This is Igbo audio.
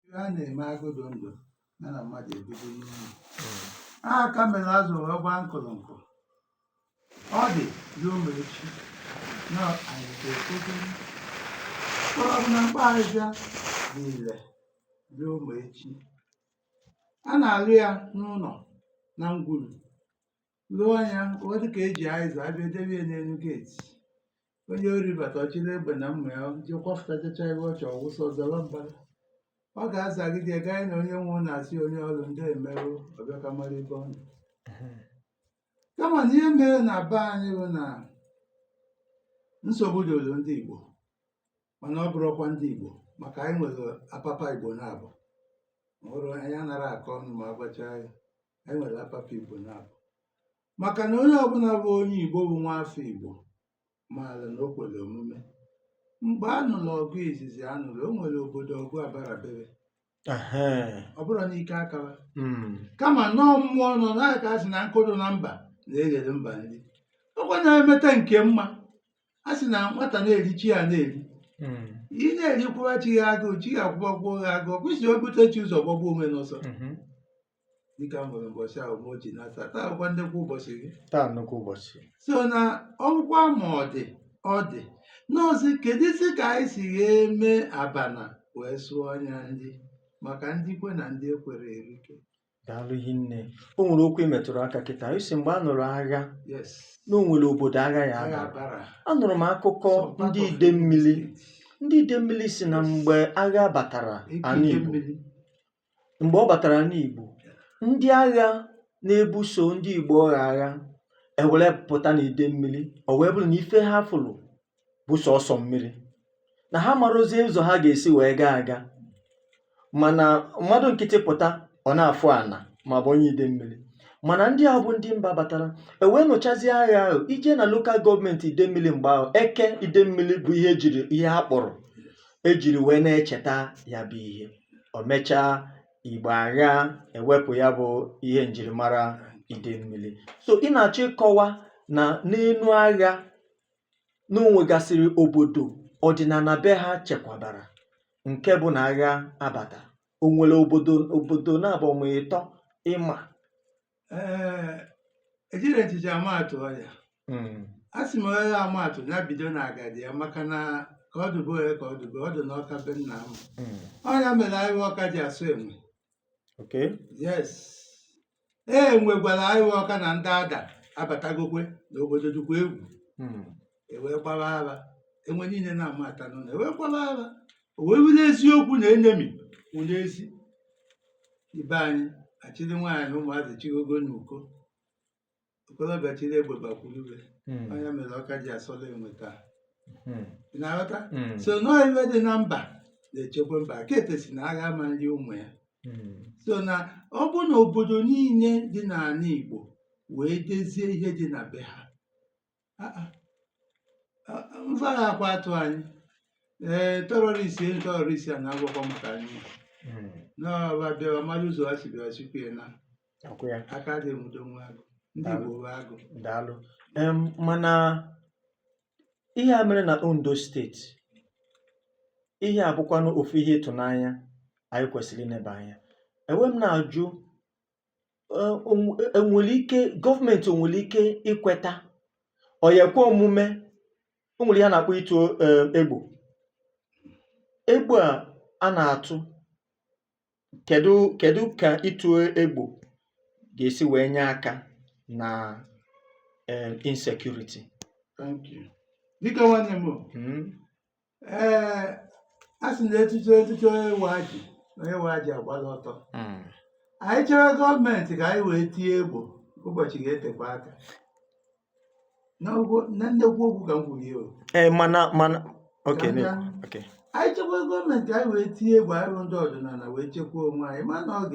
Ihe a na-eme agụ dụ ndụ ya na mmadụ ebido n'ụlọ a aka mere azụ wee gbaa nkụrụnkụ ọ dị ruo mgbe echi na anyị ga-ekpokwu mkpụrụ ọbụla mkpaghazịa dị ire ruo mgbe echi a na-alụ ya n'ụlọ na ngwuru lụọ anya ọ dịka eji aịza abịa debie n'elu geeti onye ori bata ọ chịrị egbe na mma ya ji kwafụtachacha ebe ọ chọrọ wụsa ọ zawa mbara ọ ga-azagide ya gaa na onye nwe ụlọ asị onye ọrụ ndeeme o ọ bịa ka mara ebe ọ nọ kama na ihe mere na be anyị bụ na nsogbu doro ndị Igbo mana ọ bụrọkwa ndị Igbo maka anyị nwere apapa Igbo na-abụ ọrụ anyị anara akọ ọnụ ma agbacha anyị anyị nwere apapa Igbo na-abụ maka na onye ọbụla bụ onye Igbo bụ nwa afọ Igbo maara na o kwere omume mgbe a nụrụ ọgụ izizi a nụrụ o nwere obodo ọgụ abarabere ọ bụrọ n'ike akara hmm. kama na ọ mmụọ nọ n'aka a sị na nkụ dụ na mba na-eghere mba nri ọkwa na-emeta nke mma a sị na nwata na-eri chi ya na-eri hmm. ị na-eri kwụwa chi gị agụụ chi gị akwụbakwa gị agụụ kwụsị o bute chi ụzọ gbagbuo onwe n'ọsọ hmm. dịka m nwere ụbọchị ahụ ma o ji nata taa bụkwa ndekwa ụbọchị gị taa nnukwu ụbọchị so na ọgwụgwọ ma ọ dị ọ dị n'ozi kedụzi ka anyị si eme abana wee sụọ anya ndị maka ndị kwe na ndị ekwere erike daalụ rinne o nwere okwu ị metụrụ aka kịta ị sị mgbe a nụrụ agha yes na o nwere obodo agha ya agha agha bara anụrụ m akụkọ Some part of Enugu State. ndị Idemmili ndị Idemmili sị na mgbe agha batara ala Igbo Eke Idemmili. mgbe ọ batara n'Igbo ndị agha na-ebuso ndị Igbo agha agha ewere pụta n'Idemmili o wee bụrụ na ife ha fụrụ bụ sọsọ mmiri na ha marozie ụzọ ha ga-esi wee gaa aga mana mmadụ nkịtị pụta ọ na-afụ ana ma bụ onye Idemmili mana ndị a bụ ndị mba batara ewee nụchazie agha ahụ i jee na lokal gọọmenti Idemmili mgbe ahụ eke Idemmili bụ ihe ejiri ihe ha kpụrụ ejiri wee na-echeta ya bụ ihe o mechaa mgbe agha ewepụ ya bụ ihe njirimara Idemmili so ị na-achọ ịkọwa na n'elu agha na o nwegasịrị obodo ọdịnala be ha chekwabara nke bụ na agha abata o nwere obodo obodo na-abụ ma ịtọ ịma ejiri echiche ama atụ ọ ya hmm. a sị m onye ama atụ ya bido na agadi ya maka na ka ọ dụ be onye ka ọ dụ be ọ dị n'Ọka be nna m hmm. ọ ya mere ahịhịa Ọka ji asọ enwe yes enwe gwara ahịhịa Ọka na ndị Ada abatagokwe n'obodo dụkwa egwu hmm. enwe gbara ara enwe niile na-amata n'ụlọ enwe gbara ara o wee wụrụ eziokwu na enemy wụ n'ezi be anyị achịrị nwaanyị ụmụazị chigoo n'uko okorobịa chịrị egbe bakwurube Mm. onye mere Ọka ji asọla enwe taa Mm. ị na-aghọta Mm. so na ọ ife dị na mba na-echekwa mba kete si na agha ama nri ụmụ ya Mm. so na ọ bụ na obodo niile dị n'ala Igbo wee dezie ihe dị na be ha mfa na-akwa atụ anyị ee terọrist ihe terọrist a na-agwakwa maka anyị hmm. n'ọba bịawa mmadụ ụzọ ha si bịa ha sikwu ya naa aka adị enwudo nwa agụ ndị Igbo bụ agụ daalụ mana ihe a mere na Ondo steeti ihe a bụkwanụ ofu ihe ịtụnanya anyị kwesịrị ineba anya ewee m na-ajụ um o nwe e nwèlè ike government ò nwèlè ike ikweta ọ̀ yà èkwe omume o nwèrè ihe a nà-àkpọ ịtụ um egbò egbò à a nà-àtụ kèdu kèdu kà ịtụ egbò gà-èsi wèe nye aka nà um insecurity dịkà nwanne m o um ee a sị na echiche echiche onye nwe ajị na onye nwe ajị agbala ọtọ Mm. anyị chere gọọmenti ka anyị wee tie egbo ụbọchị ga-etekwa aka N'okwu- na nnekwu okwu ka m kwuru ya o. ee mana mana oke Ka m na-ekwu gaa. oke anyị chekwa gọọmenti anyị wee tie egbo anyị bụ ndị ọdịnala wee chekwaa onwe anyị mana ọ